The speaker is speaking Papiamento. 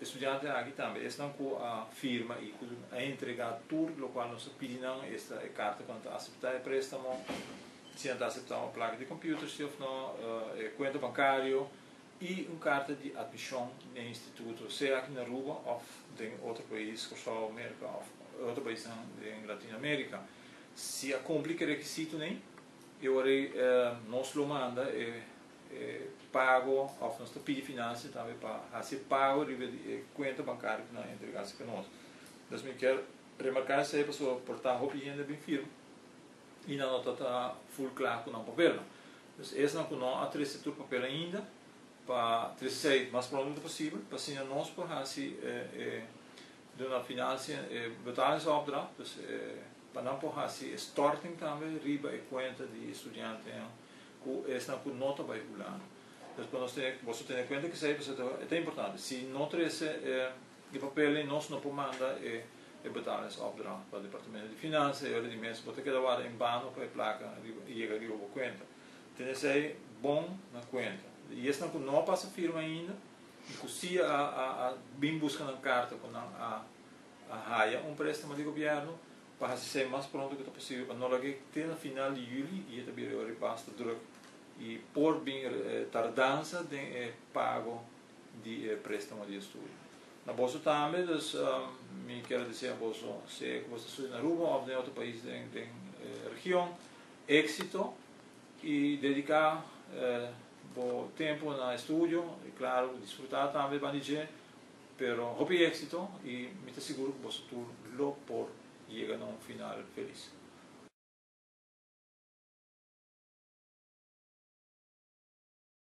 E studiantenan aki tambe esnan ku a firma i ku a entregá tur lokual nos a pidi nan, esta e karta ku nan ta aseptá e préstamo, si nan ta aseptá un plaka di kompüter si òf nò, e kuenta bankario i un karta di admishon na e instituto, sea aki na Aruba òf den e otro pais, Kòrsou, Merka òf e otro paisnan den Latinoamérika. Si a kumpli ku e rekisitonan, e wòrdu nos lo manda e. e pago of nos ta pidi financia tambe pa haci pago riba di e cuenta bancario cu nan a entrega si ca nos. Entonces mi kier remarca esey pasobra por ta hopi hende a bin firma y nan no ta ta full cla cu nan papelnan. Entonces esnan cu no a trece tur papel ainda pa trece esey mas pronto posibel pa asina nos por haci e e duna financia e betalingsopdracht, dus e pa nan por haci e storting tambe riba e cuenta di e studiantenan. ku esnan ku no ta bai hulano. Entonces pa nos tene, boso tene kuenta kisá e ta, e ta importante. Si no trese e, e papelnan, nos no por manda e, e betalingsopdracht pa Departamento di Finansa, y ora di mes bo ta keda wada en bano pa e plaka riba, yega riba bo kuenta. Tene esei bon na kuenta. Y esnan ku no a pasa firma ainda, y ku si a, a, a bin buska nan karta ku nan a, a haya un préstamo di gobièrnu, pa hasi esei mas pronto ku ta posibel pa no laga e te na final di yuli i e ta bira e ora di basta drùk i por bin tardansa den e pago di e préstamo di estudio. Na boso tambe, dus mi kier a desea boso sea ku boso ta studia na Aruba òf den otro pais den e region, éksito i dediká bo tempu na estudio i klaru disfrutá tambe banda di dje. Pero hopi éxito y mi ta seguro cu boso tur lo por yega na un final feliz.